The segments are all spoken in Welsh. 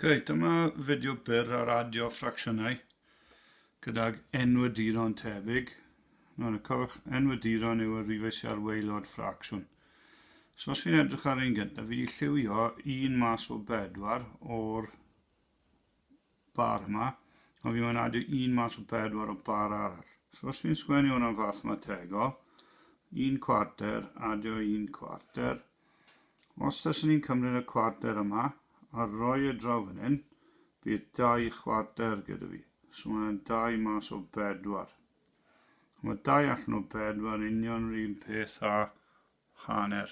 Okay, dyma fideo byr ar adio ffracsiynau gydag enwediron tebyg. Mae'n y cofiwch, enwediron yw y rifau sy'n ar waelod ffracsiwn. So os fi'n edrych ar un gyntaf, fi wedi lliwio un mas o bedwar o'r bardd 'ma, a fi'n mynadu un mas o pedwar o bar arall. So os fi'n sgwennu hwnna'n fathemategol, un cwarter, adio un cwarter. Os taswn ni'n cymryd y cwarter yma, a roi e draw fan hyn, bydd dau chwarter gyda fi. So mae hwnna'n dau mas o bedwar. Mae dau allan o bedwar union yr un peth a hanner.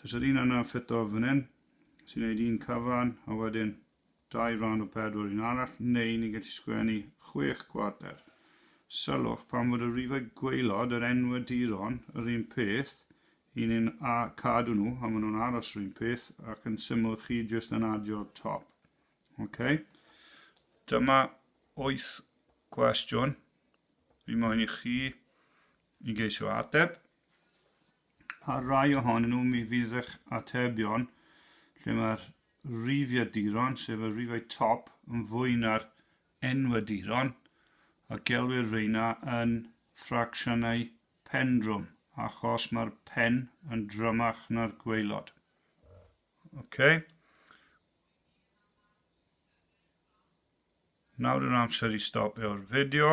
Does yr un yna ffito fan hyn, sy'n neud un cyfan a wedyn dau ran o pedwar un arall, neu ni'n gallu sgwennu chwech cwarter. Sylwch pan fod y rifau gwaelod, yr enwaduron, yr un peth, i ni'n cadw nhw a maen nhw'n aros yr un peth ac yn syml chi jyst yn adio'r top. Ok? Dyma oeth cwestiwn fi moyn i chi i geisio ateb. Pa rai ohonyn nhw mi fydd eich atebion lle mae'r rhifiaduron, sef y rhifau top, yn fwy na'r enwaduron, a gelwir reina yn ffracsiynau pendrwm, achos mae'r pen yn drymach na'r gwaelod. Okay. Nawr yw'r amser i stopio'r fideo.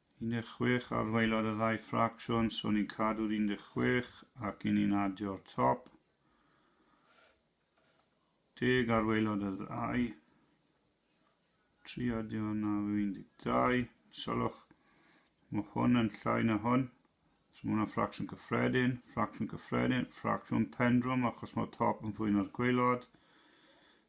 16 ar waelod y ddau ffracsiwn, so ni'n cadw'r 16 ac i ni'n adio'r top. 10 ar waelod y ddau. 3 adio yna yw 12. Sylwch, mae hwn yn llai na hwn. So mae hwnna ffracsiwn cyffredin, ffracsiwn cyffredin, ffracsiwn pendrwm achos mae'r top yn fwy na'r gwaelod.